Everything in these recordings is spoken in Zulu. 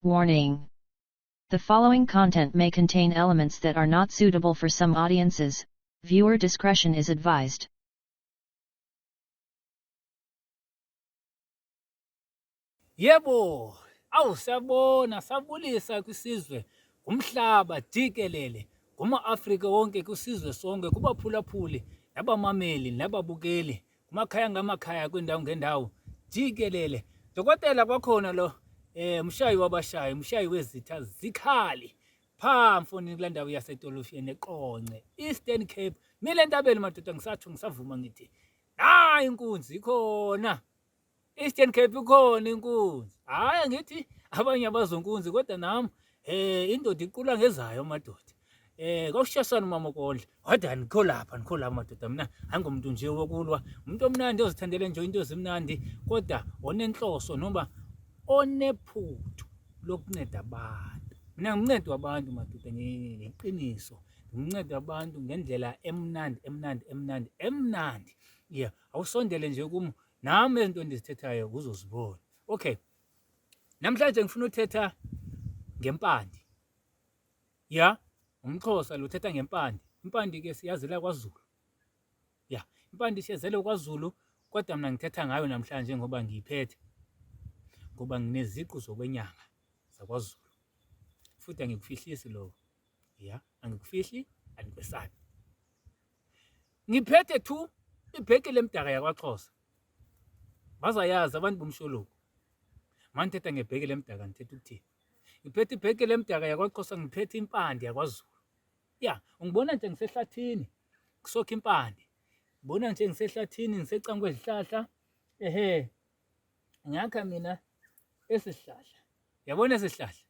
Warning. The following content may contain elements that are not suitable for some audiences, viewer discretion is advised. Yebo, awu siyabona sabulisa kwisizwe kumhlaba jikelele kuma-Afrika wonke kusizwe sonke kubaphulaphuli nabamameli nababukeli kumakhaya ngamakhaya kwindawo ngendawo jikelele dokotela kwakhona lo eh mshayi wabashayi mshayi wezitha zikhali pha mfoni kula ndawo yasetolofiyeni eqonce eastern cape mile ntabeni madoda ngisathu ngisavuma ngithi nayi inkunzi ikhona Eastern Cape ikhona inkunzi. Hayi angithi abanye abazonkunzi kodwa nami eh indoda iqula ngezayo amadoda. Eh kwakushashana umama Kondla. Wada nikho lapha nikho lapha madoda mina angomuntu nje wokulwa. Umuntu omnandi ozithandele nje into ezimnandi kodwa onenhloso noma onephuthu lokunceda abantu. Mina ngincedwa abantu madoda ngeqiniso. Nginceda abantu ngendlela emnandi emnandi emnandi emnandi. Yeah, awusondele nje kum nami izinto endizithethayo uzozibona okay namhlanje ngifuna uthetha ngempande ya umxhosa lo uthetha ngempande impande ke siyazela kwazulu ya impande siyazela kwazulu kodwa mina ngithetha ngayo namhlanje ngoba ngiyiphethe ngoba ngineziqu zokwenyanga zakwazulu futhi angikufihlisi lokho ya angikufihli andikwesabi ngiphethe two ibheke lemdaka yakwaXhosa bazayazi abantu bomsholoku manje thetha ngebheke lemdaka ngithetha ukuthini ngiphethe ibheke lemdaka yakwaXhosa ngiphethe impande yakwaZulu ya ungibona nje ngisehlathini kusokha impande ngibona nje ngisehlathini ngisecanga kwezihlahla ehe ngakha mina esihlahla yabona esihlahla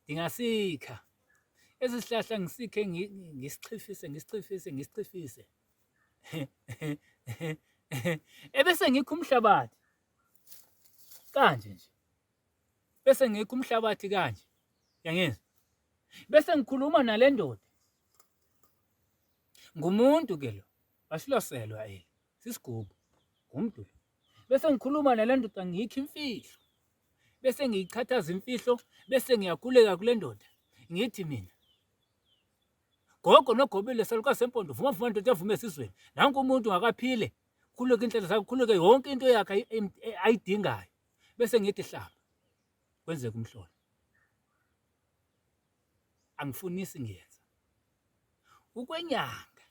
Ngingasikha, esi sihlahla ngisikhe ngisichifise, ngisichifise, ngisichifise. Ebese ngikho umhlabathi kanje nje, bese ngikho umhlabathi kanje, yangizwa? Bese ngikhuluma nale ndoda, ngumuntu ke lo, wasiloselwa eli. Sisigubu, ngumdu lo. Bese ngikhuluma nale ndoda ngiyikho imfihlo. Bese ngiyichathaza imfihlo bese ngiyakhuleka kule ndoda. Ngithi mina Gogo nogobile saluka sempondo vuma vuma ndoda evume esizweni. Nanku umuntu ngakaphile. Khuluke inhlelo zakhe, khuluke yonke into yakhe ayidingayo. Bese ngithi hlaba. Kwenzeka umhlola. angifunisi ngiyenza. Ukwenyanga,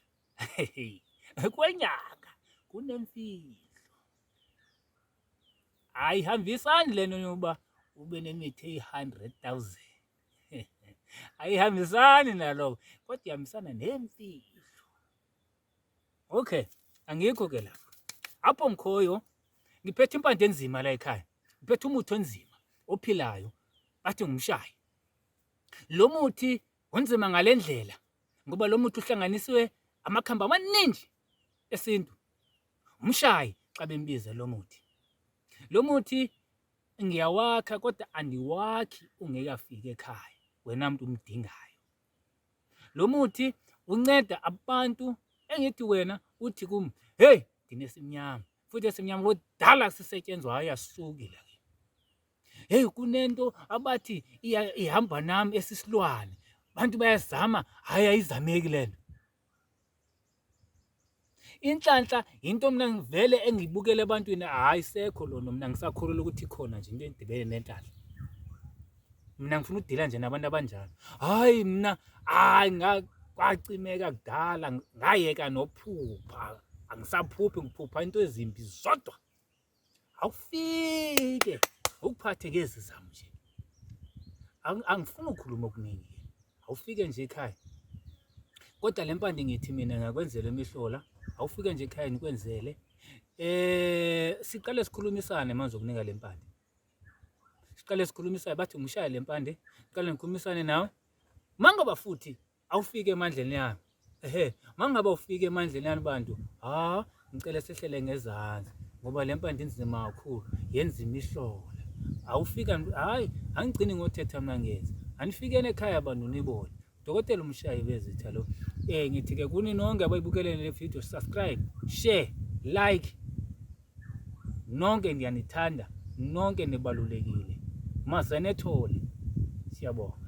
ukwenyanga kunemfihlo. Ayihambisani lento yokuba ube nemithi eyi-hundred thousand. Ayihambisani naloko kodwa ihambisana nemfihlo. Okay, angikho ke lapho. Apho ngikhoyo ngiphethe impande enzima la ekhaya. Ngiphethe umuthi onzima ophilayo bathi ngumshayi. Lo muthi unzima ngale ndlela ngoba lo muthi uhlanganiswe amakhambi amaningi esintu. Umshayi xa bembiza lo muthi. Lo muthi ngiyawakha kodwa andiwakhi ungekafiki ekhaya wena mntu umdingayo. Lo muthi unceda abantu engithi wena uthi kum heyi nginesimnyama futhi esimnyama kudala sisetyenzwayo yasukile. heyi kunento abathi ihamba nami esisilwane abantu bayazama hhayi ayizameki le nto inhlanhla yinto mina ngivele engibukele ebantwini hhayi sekho lona mina ngisakholelwa ukuthi khona nje into edibene nenhlanhla mina ngifuna ukudila nje nabantu abanjalo hhayi mina hhayi kwacimeka kudala ngayeka nophupha angisaphuphi ngiphupha into ezimbi zodwa awufike ukuphathe ngezi zami nje angifuni ukukhuluma okuningi awufike nje ekhaya kodwa le mpande ngithi mina ngakwenzela imihlola awufike nje ekhaya nikwenzele eh siqale sikhulumisane manje ukunika le mpande siqale sikhulumisane bathi ngishaya le mpande siqale ngikhulumisane nawe mangoba futhi awufike emandleni yami ehe mangabe ufike emandleni yani bantu ha ngicela sehlele ngezansi ngoba le mpande inzima kakhulu yenza imihlola awufika hayi angigcini ngothetha mna ngenza anifikeni ekhaya bantu nibone dokotela umshayi bezitha lo eh ngithi ke kuni nonke abayibukelele le video subscribe share like nonke ngiyanithanda nonke nibalulekile mazenethole siyabonga